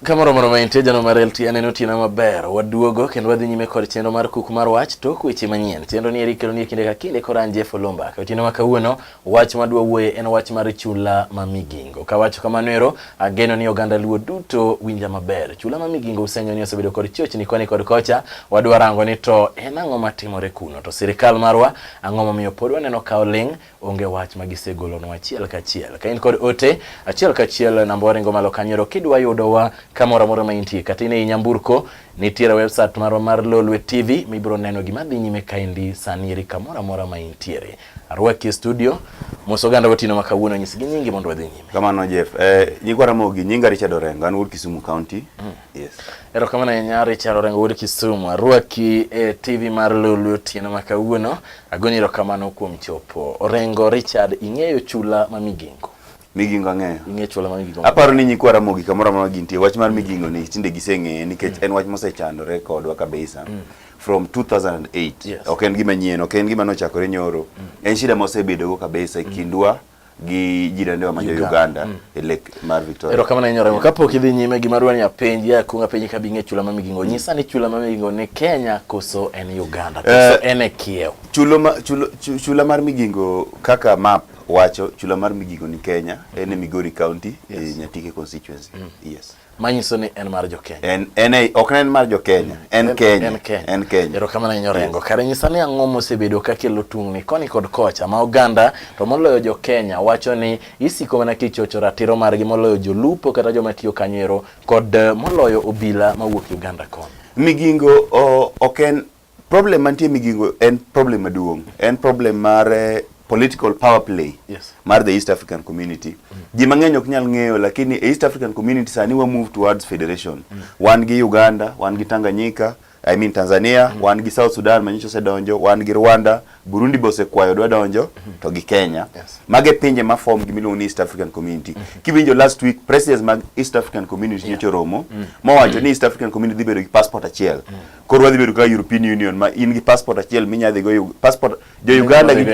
Kamoro moro ma intie jano mar LT aneno tiena maber waduogo kendo wadhi nyime kod chenro mar kuku mar wach tok weche manyien chenro ni eri kelo ni kinde ka kinde kora anje folomba ka otieno ma kawuono Wach ma dwa wuoye en wach mar chula ma Migingo. Kawacho kamano ero, ageno ni oganda Luo duto winja maber. Chula ma Migingo usenyo ni osebedo kod chochni koni kod kocha, wadwa rango ni to en ang'o matimore kuno, to sirikal marwa ang'o momiyo pod waneno ka oling', onge wach ma gisegolonwa achiel kachiel. Ka in kod ote, achiel kachiel namba waringo malo kanyo ero kidwa yudowa kamoro amora ma intie, kata in ei nyamburko, nitiere website marwa mar Lolwe TV mibiro neno gima dhi nyime kaendi sani eri kamoro amora ma intiere. Arwaki e studio. Mos oganda otieno ma kawuono nyisgi nyingi mondo wadhi nyime. Kamano Jeff. Eh, nyigwa Ramogi, nyinga Richard Orengo, an wuod Kisumu County. Mm. Yes. Erokamano ahinya Richard Orengo wuod Kisumu. Arwaki e TV mar Lulu otieno ma kawuono. Agoni erokamano kuom chopo. Orengo Richard, ing'eyo chula ma Migingo? Migingo ang'eyo. Ing'eyo chula ma Migingo. Aparo ni nyikwa Ramogi kamoro amora gintie, wach mar Migingo ni tinde giseng'eye nikech mm. en wach mosechandore kodwa kabisa. Mm. from 2008 yes. ok en gima nyien ok en gima nochakore nyoro mm. en shida ma osebedogo kabisa e mm. kindwa mm. gi jirani wa majo Uganda mm. e lek mar Victoria. Ero kamana inyora yeah. kapok idhi nyime gima dwani ya penji ya kunga penji ka binge chula mami gingo nyisa ni chula mami gingo ni Kenya koso en Uganda eh, koso uh, en e kiew. Chulo ma, chulo, chula mar migingo kaka map wacho chula mar migingo ni Kenya mm. en e Migori County e yes. e Nyatike constituency. Mm. Yes. manyiso ni en mar jo Kenya en en e, ok en mar jo Kenya en Kenya en Kenya en Kenya ero kamano inyo rengo kare nyisa ni ang'o mosebedo ka kelo tungni koni kod kocha ma oganda to moloyo jo Kenya wacho ni isiko mana kichocho ratiro margi moloyo jolupo kata joma tiyo kanyo ero kod eh, moloyo obila mawuok Uganda kon Migingo ok en Problem mantie Migingo en problem maduong'. En problem mar eh, political power play Yes. mar the East African community. Ji mang'eny ok nyal ng'eyo lakini e East African community sani wa move towards federation. Wan gi Uganda, wan gi Tanganyika, I mean Tanzania, wan gi South Sudan manyicho osedonjo, wan gi Rwanda, Burundi be osekwayo dwa donjo to gi Kenya. Yes. Mage pinje ma form gimiluongo ni East African Community. Kiwinjo last week presidents mag East African Community nyocha oromo mowacho ni East African Community dhi bedo gi passport achiel. Koro wadhi bedo ka European Union ma in gi passport achiel minya dhi go passport jo Uganda gi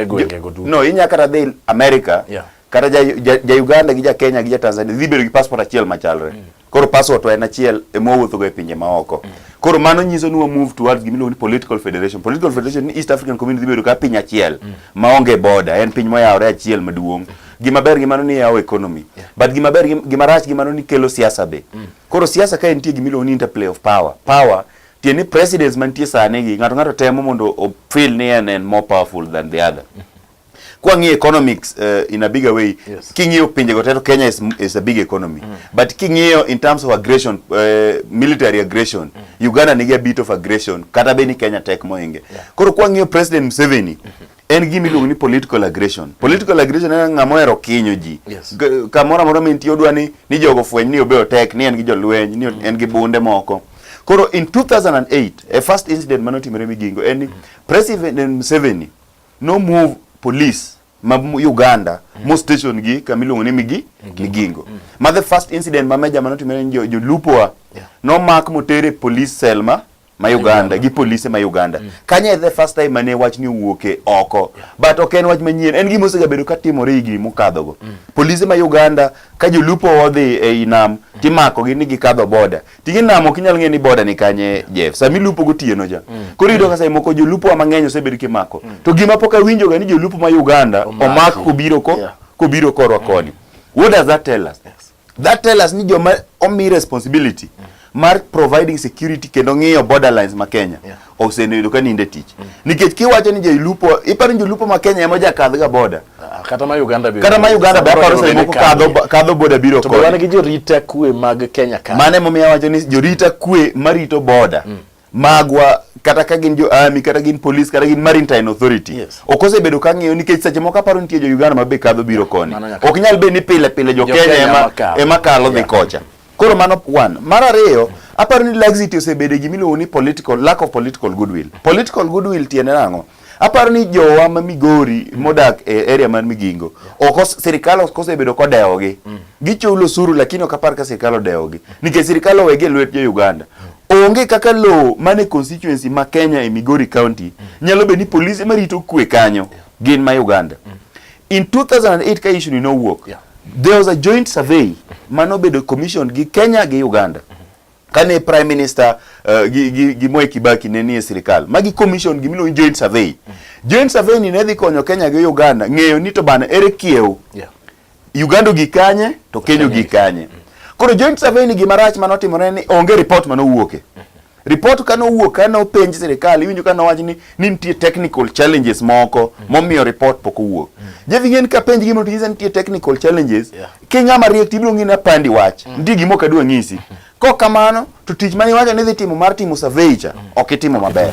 no inya kata dhi America yeah. kata ja, ja, ja Uganda gi ja Kenya gi ja Tanzania dhi bedo gi passport achiel machalre mm. koro passport to en achiel e ma wuotho go e pinje ma oko mm. koro mano nyiso ni wa move towards gimi ni political federation political federation ni East African Community dhi bedo ka piny achiel mm. ma onge border en piny moyawore achiel maduong' mm. gima ber gi mano ni yawo economy yeah. but gima ber gima rach gi mano ni kelo siasa be mm. Koro siasa kae nitie gima iluongo ni interplay of power. Power tiende ni presidents mantie sani gi ng'ato ng'ato temo mondo o feel ni en en more powerful than the other. Kwa ng'iyo economics uh, in a bigger way, yes. King'iyo pinje go teto Kenya is, is a big economy. Mm. But king'iyo in terms of aggression, uh, military aggression, mm. Uganda nigi a bit of aggression, kata be ni Kenya tek moinge. Yeah. Koro kwa ng'iyo President Museveni, mm -hmm. en gima iluongo ni political aggression. Political aggression en ng'ama ohero kinyo ji. Yes. G- Kamoro amora mintie odwa ni ni jogo fweny ni obe otek, ni en gi jolweny, ni en gi bunde moko. Koro in 2008, a first incident mane otimore Migingo en ni President Museveni no move police ma m- Uganda mo station gi kama iluongo ni Migi Migingo. Ma the first incident ma major mane otimore ni jo- jolupo wa Yeah. nomak motere police cell ma ma Uganda gi polise ma Uganda mm. kanye the first time mane wach ni wuoke oko but ok en wach manyien en gima osegabedo ka timore higni mokadhogo mm. polise ma Uganda ka jolupo odhi ei nam mm. timako gi ni gikadho boda tigi nam ok inyal ng'e ni boda ni kanye Jeff sami lupo gotieno ja mm. koro yudo ka sai moko jolupo wa mang'eny osebedo kimako mm. to gima pok awinjoga ni jolupo ma Uganda omak kobiro ko yeah. kobiro korwa mm. koni what does that tell us yes. That tell us ni joma omi responsibility mm. mar providing security kendo ng'iyo borderlines ma Kenya yeah. osenido ka ninde tich mm. nikech kiwacho ni jolupo iparo ni jolupo ma Kenya ema jakadh ga border ah, kata ma Uganda biro kata ma Uganda be aparo sani moko kadho kadho border biro kod to wan gi jorita kwe mag Kenya ka mane momiyo wacho ni jorita kwe marito border mm. magwa kata ka gin jo army kata gin police kata gin maritime authority yes. ok osebedo ka ng'iyo nikech seche moko aparo nitie jo Uganda ma be kadho biro koni ok nyal bed ni pile pile jo Kenya ema ema kalo dhi kocha koro mano one mar ariyo aparo ni laxity osebedo gima iluongo ni political lack of political goodwill political goodwill tiende nang'o Aparo ni jowa ma Migori mm. modak e area mar Migingo, oko sirkal ok osebedo kodewogi. Mm. Gichulo osuru lakini ok apar ka sirkal odewogi. Mm. Nikech sirkal owegi e lwet jo Uganda. Onge kaka lowo mane constituency ma Kenya e Migori County nyalo bedo ni polise marito kwe kanyo gin ma Uganda. In 2008 ka issue ni nowuok, there was a joint survey manobedo commission gi Kenya gi Uganda. kane prime minister uh, gi, gi, gi Mwai Kibaki ne nie sirikal magi commission gimiluongo ni joint survey mm. joint survey ni ne dhi konyo Kenya gi Uganda ng'eyo ni to bana ere kiew yeah. Uganda gi kanye to Kenya gi kanye mm. koro joint survey ni gima rach mano timore ni onge report mano wuoke mm -hmm. report kano wuok kano penj sirikal iwinjo kano wach ni ni nitie technical challenges moko mm. momiyo report pok owuok mm. jevi ng'en ka penj gimo tisa nitie technical challenges yeah. Kenya mariek to ibiro ng'ina pandi wach. Mm. Ndi gimo kadwa ng'isi. Mm. Kok kamano to tich mani wacho ni dhi timo mar timo survey cha mm. ok itimo maber.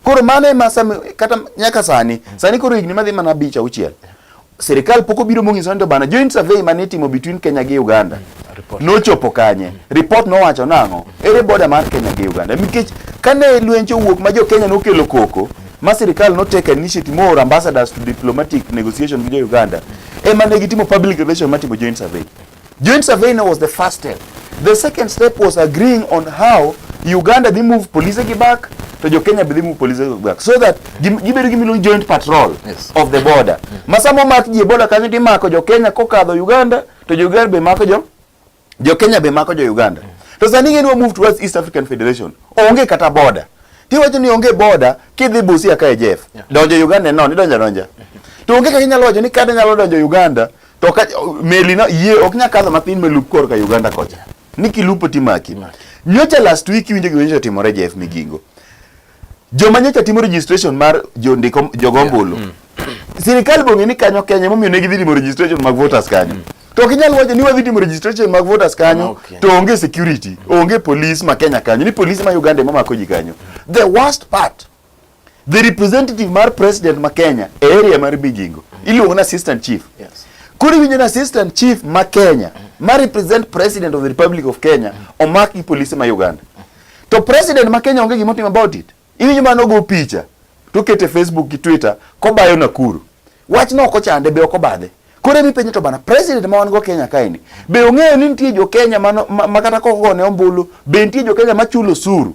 Koro mano ema sami kata nyaka sani. Sani koro higni madhi mana bicha uchiel. Serikal poko biro mong'iso ni to bana joint survey mani itimo between Kenya gi Uganda. Nochopo kanye? Report nowacho nang'o? Ere border mar Kenya gi Uganda? Nikech kane lwenje owuok ma jo Kenya nokelo koko ma sirikal no take initiative more ambassadors to diplomatic negotiation with Uganda ema ne gitimo public relation mar timo joint survey. Joint survey no was the first step. The second step was agreeing on how Uganda dhi move police gi back to jo Kenya be dhi move police gi back so that gibedo gi miluongo joint patrol yes. of the border. Yes. Masamo mak ji e border kanyo timako jo Kenya kokadho Uganda to jo Uganda be mako jo jo Kenya be mako jo Uganda to sani ing'e ni wa move towards East African Federation onge kata border tiwacho ni onge border kidhi Busia ka e Jeff donjo Uganda no ni donja donja to onge kaka inyalo wacho ni kada nyalo donjo Uganda to ka meli no yie ok nyal kadho matin melup kor ka Uganda kocha ni kilupo timaki nyocha last week winjo gima nyocha timore Jeff Migingo Joma nyocha timo registration mar jondiko jogombulu. Yeah. Mm. Sirikal bong'e ni kanyo Kenya momiyo ne gidhi timo registration mag voters kanyo. Mm. To ok inyal wacho ni wadhi timo registration mag voters kanyo okay. to onge security, onge police ma Kenya kanyo, ni police ma Uganda ema mako ji kanyo. The worst part the representative mar president ma Kenya e area mar Migingo iluongo na assistant chief. Yes. Koro iwinjo na assistant chief ma Kenya ma represent president of the Republic of Kenya omak gi police ma Uganda. To president ma Kenya onge gima otimo about it. Iwinjo mano go picha to kete Facebook gi Twitter kobayo Nakuru. Wach no ok chande be ok obadhe. Kore mi penyo to bana president ma wan go Kenya kaini. Be ong'eyo ni nitie jo Kenya ma, ma, ma kata koko ne ombulu, be nitie jo Kenya ma chulo suru.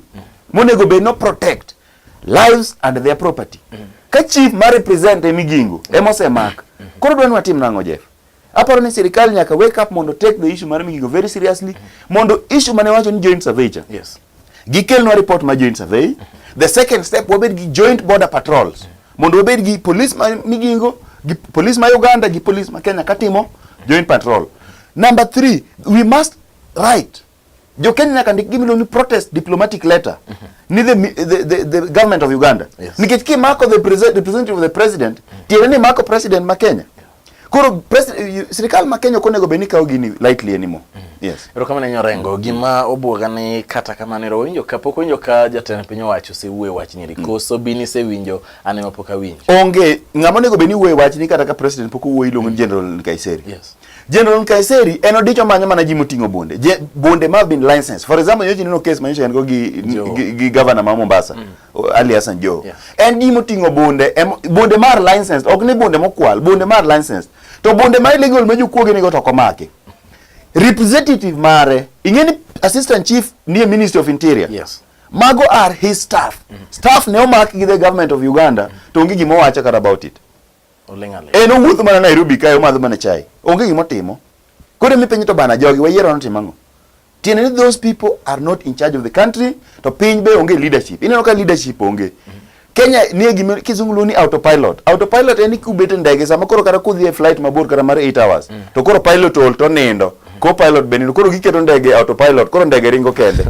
Monego be no protect lives and their property. Ka chief ma represent e migingo ema osemak. Koro dwani watim nang'o Jeff? Aparo ni sirkal nyaka wake up mondo take the issue mar Migingo very seriously mm -hmm. mondo issue mane wacho ni joint survey cha. Yes. Gikelnwa report ma joint survey. Mm -hmm. The second step wabed gi joint border patrols. Mm -hmm. Mondo wabed gi police ma Migingo, gi police ma Uganda, gi police ma Kenya katimo joint patrol. Number three, we must write Jo Kenya nyaka ndik gimilo ni protest diplomatic letter mm -hmm. ni the, the, the, the government of Uganda yes. nikech ki mako the president, the president of the president mm -hmm. tiende ni mako president ma Kenya yeah. Koro sirikal ma Kenya ok onego bed ni kawo gini lightly anymore. Mm. Yes. Erokamano Nyo Orengo, gima obwoga ni kata kamano ero winjo kapok winjo ka jatend piny owacho osewuoyo wach nyiri mm. koso bi nisewinjo an ema pok awinjo. Onge ng'ama onego bed ni wuoyo wach ni kata ka president pok owuoyo iluongo ni mm. General Kaiseri. Yes. General Nkaiseri en odicho manyo mana ji moting'o bonde. Je, bonde ma bin license. For example, yoji nino case manyo go gi, gi, gi governor ma Mombasa, mm. Ali Hassan Joho. Yeah. En ji moting'o bonde, em, bonde mar license, ok ni bonde mokwal, bonde mar license. To bonde ma illegal ma jokuoge nigo to komake. Representative mare, ing'eni assistant chief near Ministry of Interior. Yes. Mago are his staff. Mm. Staff ne omak gi the government of Uganda, mm. to onge gima owacho kata about it. En owuotho mana Nairobi kae omadho mana chai. Onge gima otimo. Koro mi penyo to bana jogi wayiero notimo ang'o? Tiende ni those people are not in charge of the country to piny be onge leadership. Ineno ka leadership onge. Kenya nie gima kizungu luongo ni autopilot. Autopilot en ni kubet e ndege sama koro kata kudhi e flight mabor kata mar 8 hours mm. to koro pilot ol to nindo. co-pilot bende ni koro giketo ndege autopilot koro ndege ringo kende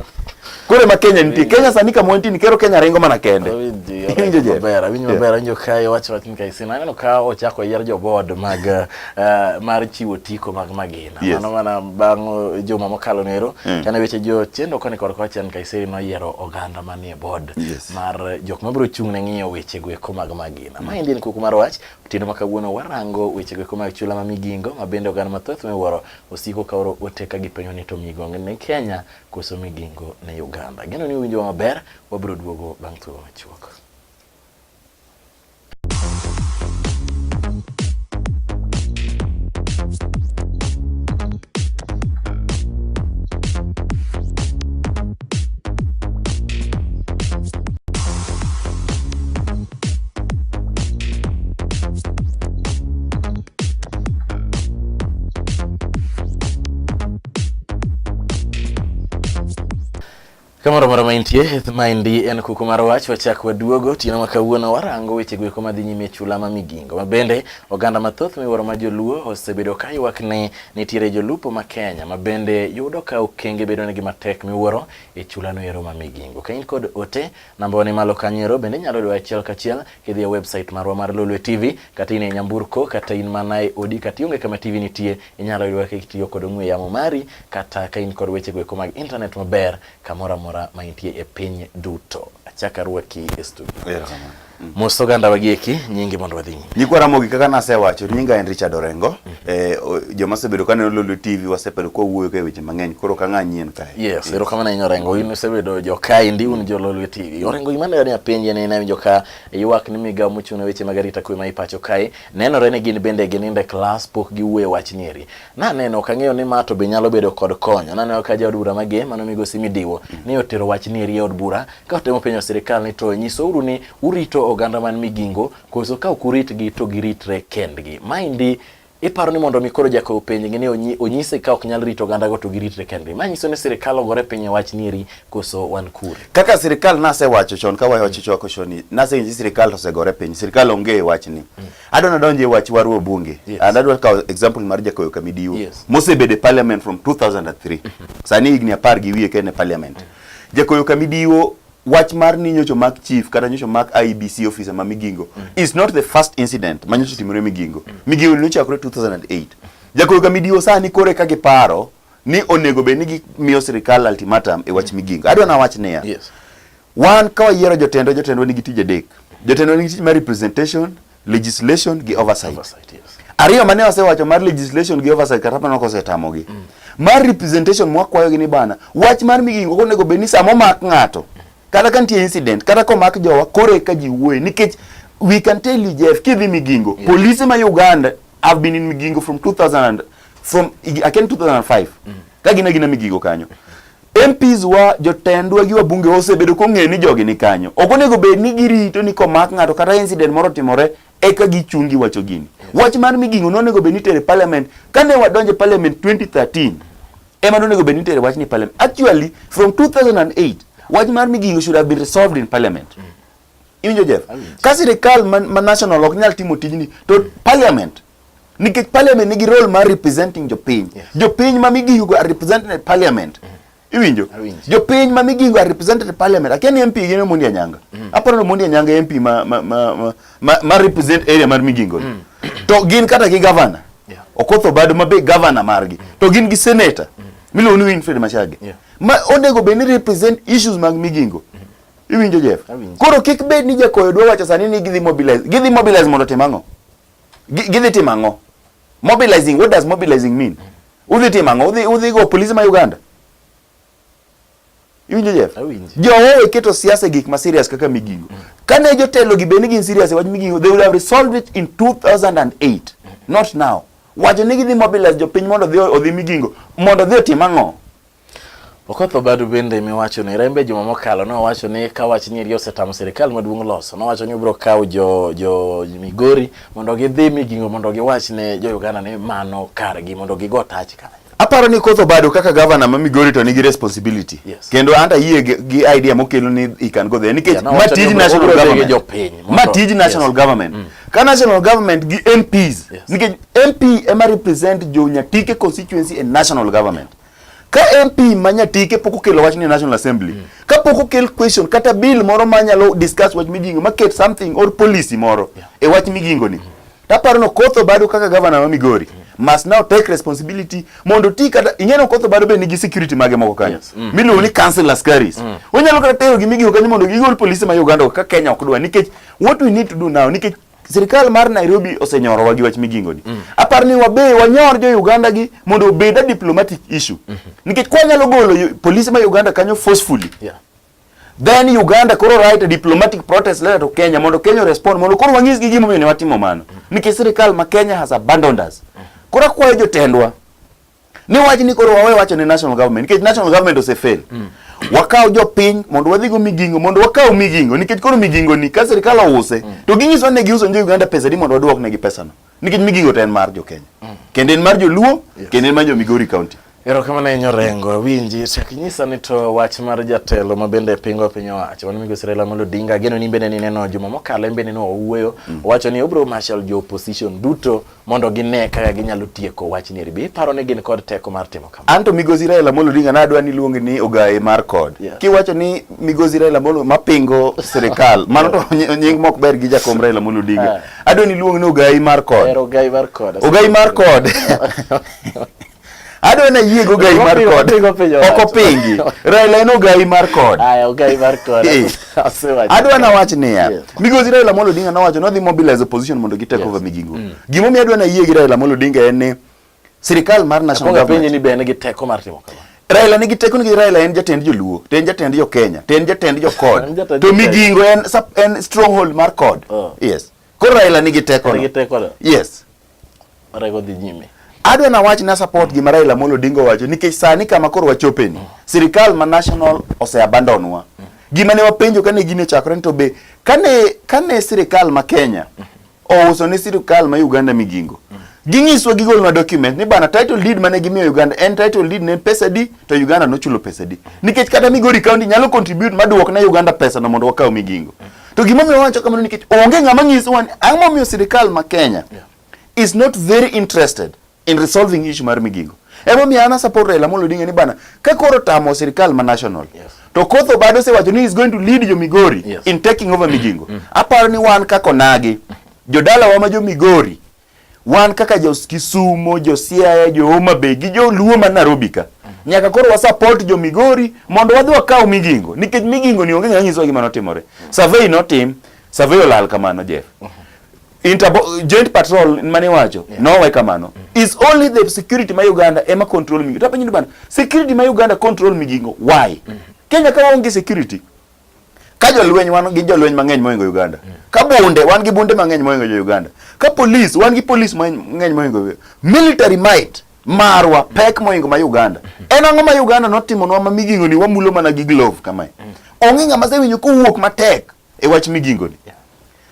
koro ma Kenya nitie Kenya sani kama wantie ni kero Kenya ringo mana kende Awinjo je? maber awinjo Yeah. maber awinjo ka iwacho wachni ka isina aneno ka ochako yier jo board mag eh, mar chiwo tiko mag magina Yes. mano mana bang' eh, juma mokalo nero Mm. kane weche jo chendo koni kod kochen kaiseri noyiero oganda manie board Yes. mar eh, jok mabiro chung' ne ng'iyo weche goeko mag magina ma endi en kuku mar wach Tindo ma kawuono warango wechego eko mag chula ma migingo ma bende oganda mathoth miwuoro osiko ka oro ote ka gipenyo ni to migongo ni Kenya koso migingo ni Uganda. Geno ni uwinjo maber, wabiro duogo bang' thuolo machuok. Kamoro moro maintie maendi en kuku mar wach wachak waduogo otieno ma kawuono warango weche goeko madhi nyime e chula ma Migingo ma bende oganda mathoth miwuoro ma joluo osebedo ka ywak ni Nitiere jolupo ma Kenya ma bende yudo ka okenge bedonegi matek miwuoro e chulano ero ma Migingo. Ka in kod ote, nambawa ni malo kanyo ero bende inyalo yudowa achiel kachiel kidhi e website marwa mar Lolwe TV kata in e nyamburko kata in mana e odi kata ionge kama TV nitie inyalo yudowa kitiyo kod ong'we yamo mari kata ka in kod wechego eko mag internet maber kamoro amora ma intie e piny duto. Achak arwaki e studio. Erokamano. mos oganda wagieki nyingi mondo wadhi nyime. Nyikwa Ramogi kaka nasewacho nyinga en Richard Orengo. Mm. Eh, joma osebedo kaneno Lolwe TV wasebedo kwa wuoyo ka weche mang'eny koro ka ng'a nyien kae. Yes, erokamano ahinya Orengo. In isebedo jo kae ndi un jo Lolwe TV. Orengo gima ne apenje ne nawinjo ka ywak ni migawo mochung' ne weche mag arita kwe ma ipacho kae nenore ni gin bende gininde klas pok giwuoye wach nieri. Naneno ok ang'eyo ni ma to be nyalo bedo kod konyo. Naneno ka jaod bura mage mano migosi midiwo mm. ni otero wach nieri e od bura Ka utemo penjo sirkal ni to nyisouru ni urito oganda man Migingo koso ka ok uritgi to giritre kendgi. Maendi iparo ni mondo mi koro jakow penjgi ni onyise ka ok nyal rito ogandago to giritre kendgi. Ma nyiso ni sirkal ogore piny e wach nieri koso wan kure. Kaka sirkal nasewacho chon ka wayo wach chwako choni nasenyiso sirkal osegore piny. Sirkal onge e wach ni. Mm. Adwa nadonje e wach waru e bunge. Yes. And adwa kawo example mar jakow Kamidiwo. Yes. Mosebede parliament from 2003. Mm-hmm. Sani higni apar gi wiye ka en e parliament. Mm. Jakoyo Kamidiwo wach mar ni nyocho mak chief kata nyocho mak IBC e officer ma Migingo mm. is not the first incident ma nyocho timore Migingo. Mm. Migingo ne ochakore 2008. Jakoyo Kamidiwo sani kore ka giparo ni onego bed ni gimiyo sirkal ultimatum e wach mm. Migingo. Adwa na wach niya. Yes. Wan ka wayiero jotendwa, jotendwa nigi tije adek. Jotendwa nigi tich mar representation, Legislation gi oversight. Oversight, yes. Ariyo mane wasewacho mar legislation gi oversight kata mana kosetamogi. Mm. Mar representation mwakwayogi ni bana, wach mar migingo ok onego bed ni sama omak ng'ato kata ka nitie incident kata komak jowa koro eka ji wuoye nikech we can tell you Jeff kidhi migingo yeah. polise ma Uganda have been in migingo from 2000 from again 2005 mm. ka gina gina migingo kanyo MPs wa jotendwa gi wabunge osebedo kong'eyo ni jogi ni kanyo. Ok onego bed ni girito ni komak ng'ato kata incident moro timore eka gichungi wacho gini. Wach mar migingo nonego bed ni tere parliament kane wadonje parliament 2013 ema nonego bed ni tere wach ni parliament. Actually from 2008 wach mar migingo should have been resolved in parliament. Mm. Iwinjo Jeff? Ka sirikal ma, ma national ok nyal timo tijni to parliament nikech parliament nigi role mar representing jopiny yes. jopiny ma migingo are represented in parliament mm -hmm. iwinjo jopiny ma migingo are represented in parliament akia ni mp gin omondi anyanga mm -hmm. aparo ni omondi anyanga mp ma, ma, ma, ma, ma, ma represent area mar migingo mm -hmm. to gin kata gi governor yeah. okoth obado ma be governor margi mm -hmm. to gin gi senator mm -hmm. miluongo ni winfred machage yeah. ma onego bed ni represent issues mag migingo mm -hmm. iwinjo jeff koro kik bed ni jakoyo dwa wacho sani ni gidhi mobilize gidhi mobilize mondo tim ang'o Gidhi timo ang'o? Mobilizing, what does mobilizing mean? Udhi timo ang'o? Udhi, udhi go polisi ma Uganda? Iwinjo Jeff? Jowowe iketo siasa e gik ma serious kaka migingo. Mm. Kane jotelo gi beni gin serious e wach migingo, they would have resolved it in 2008, not now. Wacho ni gidhi mobilize jopiny mondo odhi migingo, mondo odhi otim ang'o? Okoth Obadu bende miwacho ni rembe juma mokalo nowacho ni ka wach nyiri osetamo sirkal maduong' loso nowacho ni obiro kawo jo jo Migori mondo gidhi migingo mondo giwach ne jo Uganda ni mano kargi mondo gigo tach kanyo. Aparo ni Koth Obado kaka gavana ma Migori to nigi responsibility. Yes. Kendo anta yie gi idea mokelo ni he can go there nikech yeah, no, ma tij national government. Ma tij national yes. government. Mm. Ka national government gi MPs yes. nikech MP ema represent jo Nyatike constituency and national government. Ka MP ma Nyatike pok okelo wach ni National Assembly, mm. ka pok okel question kata bill moro ma nyalo discuss wach migingo, ma ket something or policy moro yeah. e wach migingo ni. Mm. Taparo no Kotho Bado kaka governor ma Migori mm. must now take responsibility mondo ti kata ing'eno Kotho Bado be nigi security mage moko kanyo yes. mm. miluongo ni council askaris mm. onyalo kata tero gi migingo kanyo mondo gigol polisi ma Uganda ka Kenya ok dwa nikech what we need to do now nikech Sirkal mar Nairobi osenyorowa gi wach migingoni. Mm. Apar ni wabe wanyor jo Uganda gi mondo obed a diplomatic issue. Mm -hmm. Nikech kwa nyalo golo polisi ma Uganda kanyo forcefully. Yeah. Then Uganda koro write a diplomatic protest letter to Kenya mondo Kenya respond mondo koro wang'is gi gimomiyo ne watimo mano. Mm. Nikech sirkal ma Kenya has abandoned us. Mm. Koro akwayo jotendwa ni wach ni koro wawe wacho ne national government nikech national government osefail mm. wakaw jopiny mondo wadhigo migingo mondo wakaw migingo nikech koro migingo ni ka sirikal ouse mm. to ginyiso ne giuso jo Uganda pesa di mondo waduok negi pesano nikech migingo to en mar jo Kenya mm. kendo en mar joluo yes. kendo en mar jo Migori county erokamano ahinya Orengo awinji chak inyisa ni to wach mar jatelo ma bende pingo piny owacho mano migosi Raila Amolo Odinga ageno ni bende nineno juma mokalo en bende ne owuoyo mm. owacho ni obro marshal jo opposition duto mondo gine kaka ginyalo tieko wach ni ribi paro ni gin kod teko mar timo kamano. Anto Migosi Raila Amolo Odinga nadwa ni luongi ni ogaye mar kod. Yeah. Kiwacho ni Migosi Raila Amolo mapingo sirikal mano to nying mok ber gi jakom Raila Amolo Odinga. Yeah. Adwa ni luongi ni ogaye mar kod. Ero ogaye mar kod. Ogaye mar kod. adwa na yie go gai mar kod ok opingi Raila en ogai mar kod aya ogai mar kod eh. adwa na wach niya migosi Raila Amolo Odinga nowacho nodhi mobilize opposition mondo gi take over migingo mm. gimo mi adwa na yie gi Raila Amolo Odinga en ni sirikal mar national government penye ni be en gi teko mar timo kamano Raila nigi teko nigi Raila en jatend joluo to en jatend jo Kenya to en jatend jo kod to migingo en en stronghold mar kod oh. yes Koro Raila nigi teko. Nigi teko. Yes. Raila dhi nyime. Adwa na wach na support gima Raila Amolo Odinga wacho nikech sani kama koro wachope ni. Sirikal ma national ose abandon wa. Gima ne wapenjo kane gine chakore ni to be kane kane sirikal ma Kenya ouso ne sirikal ma Uganda migingo. Ginyiswa gigol na document ni bana title deed mane gimiyo Uganda en title deed ne pesa di to Uganda nochulo pesa di. Nikech kata Migori County nyalo contribute maduok ne Uganda pesa no mondo wakaw migingo. To gima omiyo wacho kamano nikech onge ng'ama nyiso wani ang'o momiyo sirikal ma Kenya yeah. is not very interested in resolving issue mar migingo. Emo mi ana support Raila Amolo Odinga ni bana ka koro tamo sirikal ma national. Yes. To Kotho bado se wacho ni is going to lead jo Migori yes. in taking over migingo. Mm. Aparo ni wan kako nagi. Jodala wa ma jo Migori wan kaka jo Kisumo, jo Siaya, jo Homa Bay gi jo Luo ma Nairobi ka nyaka koro wa support jo Migori mondo wadhi wakaw Migingo nikech Migingo ni onge ng'ama nyiso gima notimore. Survey notim, survey olal kamano Jeff. Interbo joint patrol mane wacho yeah. nowe kamano mm. is only the security ma Uganda ema control Migingo. Tapenyo bana security ma Uganda control Migingo why? Mm. Kenya ka onge security ka jolweny wan gi jolweny mang'eny moingo Uganda mm. ka bunde wan gi bunde mang'eny moingo jo Uganda ka police wan gi police mang'eny moingo military might marwa mm. pek moingo ma Uganda mm. en ang'o ma Uganda notimonwa ma migingoni wamulo mana gi glove kamae mm. onge ng'ama sewinjo kowuok matek e wach migingoni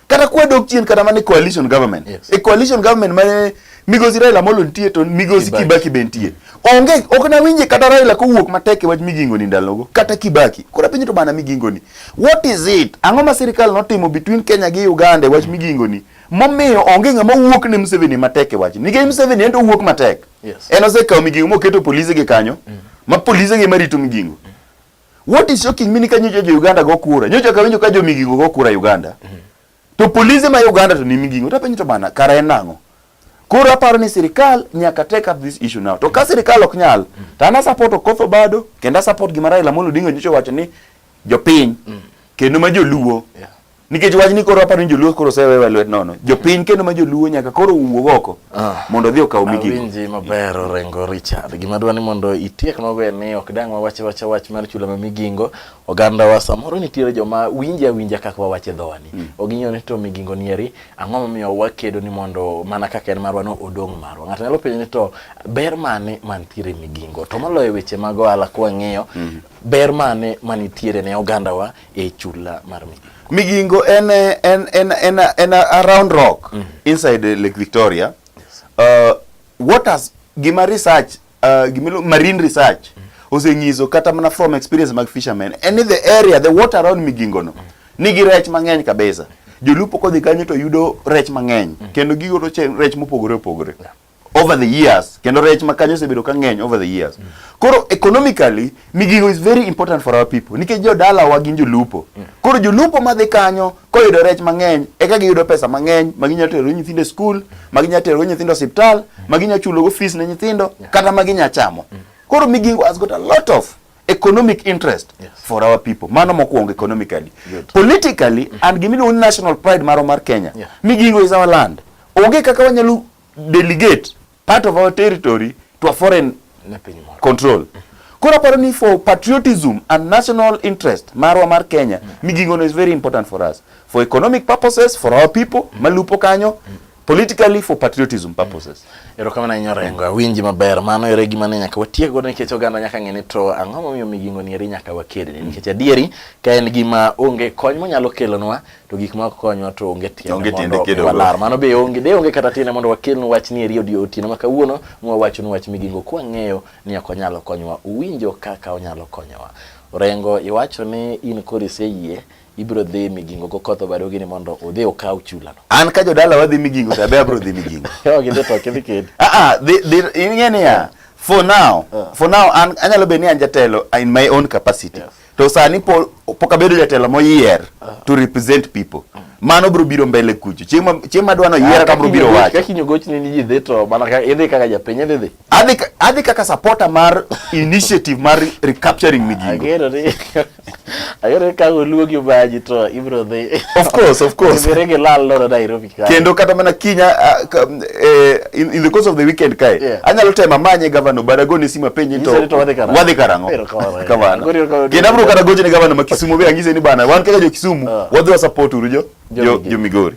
kata kwedo chien kata mane coalition government yes. e coalition government mane migosi Raila Amolo nitie to migosi Kibaki be nitie onge ok na winje kata Raila kowuok matek e wach migingo ni ndalogo kata Kibaki kora pinyo to bana migingo ni what is it ang'o ma sirikal notimo between Kenya gi Uganda e wach mm. migingo ni momiyo onge ng'ama wuok ne Museveni matek e wach nikech Museveni en to wuok matek yes. en osekawo migingo moketo polise gi kanyo mm. ma polise gi marito migingo mm. What is shocking me ni ka nyocha jo Uganda go kura. Nyocha ka winjo ka jo migingo go kura Uganda. Mm -hmm. To polisi ma Uganda to ni migingo. Ta penjo to bana kara en nango. Koro aparo ni sirikal nyaka take up this issue now. To ka sirikal ok nyal, mm. to ana support Okoth Obado, kendo support gima Raila Amolo Odinga nyocha wacho ni jopiny mm. kendo ma joluo yeah. nikech wach ni koro aparo ni joluo koro osewewa lwet nono jopiny kendo ma joluo nyaka koro wuog oko ah. mondo odhi okaw migigo awinji maber orengo richard gima dwa ni mondo itiek maber ni ok dang wawache wacha wach mar chula ma migingo oganda wa samoro nitiere joma winje awinja kaka wawache dhowani mm. ok ging'eyo ni to migingo nieri ang'o momiyo wakedo ni mondo mana kaka en marwa no odong' marwa ng'ato nyalo penjo ni to ber mane mantiere migingo to moloyo weche mag ohala kwang'iyo mm. ber mane manitiere ne oganda wa e chula mar Migingo? Migingo en en en en, en a round rock mm -hmm. inside Lake Victoria. Yes. Uh, waters gima research uh, gima marine research mm -hmm. osenyiso kata mana from experience mag fishermen and in the area the water around Migingo no mm -hmm. nigi rech mang'eny kabisa. Jolupo kodhi kanyo to yudo rech mang'eny mm -hmm. kendo gigo to rech mopogore opogore. Yeah. over the years kendo rech ma kanyo osebedo ka ng'eny over the years mm. koro economically migingo is very important for our people nikech jodala wa gin jolupo mm. koro jolupo madhi kanyo koyudo rech mang'eny eka giyudo pesa mang'eny ma ginyalo terogo nyithindo e skul ma ginyalo terogo nyithindo osiptal mm. ma ginyalo chulogo fees ne nyithindo yeah. kata ma ginyalo chamo mm. koro migingo has got a lot of economic interest yes. for our people mano mokwongo economically Good. politically mm -hmm. and gimiluongo ni national pride maro mar Kenya yeah. migingo is our land onge kaka wanyalo delegate part of our territory to a foreign control mm -hmm. Koro aparo ni for patriotism and national interest marwa mar Kenya mm -hmm. migingono is very important for us for economic purposes for our people mm -hmm. malupo kanyo mm -hmm. politically for patriotism purposes. Erokamano ahinya Orengo, awinji maber. Mano ere gima ne nyaka watiek godo nikech oganda nyaka ng'e ni to ang'o momiyo migingo ni eri nyaka wakedni nikech adieri ka en gima onge kony monyalo kelonwa to gik ma konywa to onge tiende mondo walar. Mano be onge de onge kata tiende mondo wakelnu wach ni eri odio otieno ma kawuono mwawachonu wach migingo kwa ng'eyo ni ok onyalo konyowa. Uwinjo kaka onyalo konyowa. Orengo iwacho ni in koro iseyie ibiro dhi migingo go koth obado gini mondo udhi ukaw chula no. An ka jodala wadhi migingo to abe abiro dhi migingo. Yo gidhi to kidhi kid. Ah ah, ing'e niya for now uh. for now an anyalo bedo ni an jatelo in my own capacity. Yes. To sani po, pok abedo jatelo moyier uh. to represent people. Uh. Mano bro biro mbele kucho. Chieng' chieng' madwano yiera ka bro biro wacho. Kaka inyogochni ni ji dhi to mana ka idhi kaka japiny idhi. Adhi adhi kaka supporter mar initiative mar recapturing Migingo. Agero ni agero ka oluogi baji to ibro dhi. Of course, of course. Ibere ge lal loro Nairobi ka. Kendo kata mana kinya eh, in, in the course of the weekend kae. Yeah. Anyalo tema manye governor Barago ni sima penye to. Wadhi karango. Wadhi karango. Kamano. Kendo abro kata goje ni governor ma Kisumu be angise ni bana wan kaka jo Kisumu ah. wadhi wa support uru jo jo Migori.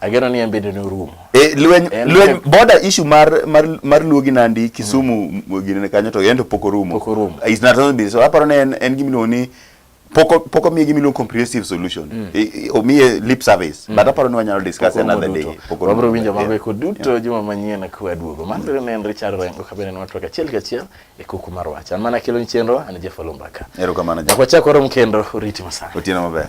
Ageno ni embende norumo. Eh, lweny lweny border issue mar mar mar Luo gi Nandi Kisumu mm. gine kanyo to yendo pok orumo. Pok orumo. Ah, it's not only so aparo ne en, en gimiluongo ni poko poko miye gimiluongo comprehensive solution. Mm. E, e, omiye lip service. Mm. But aparo ni wanyalo discuss another day. Poko orumo. Wabro winjo mago eko duto yeah. juma manyien ka waduogo. Man mm. ne en Richard Rengo ka bende nwatwa kachiel kachiel e kuku mar wacha. Mana kilo ni chenro an Jeff Olumbaka. Erokamano. Jakwachako rom kendo oriti masana. Otieno maber.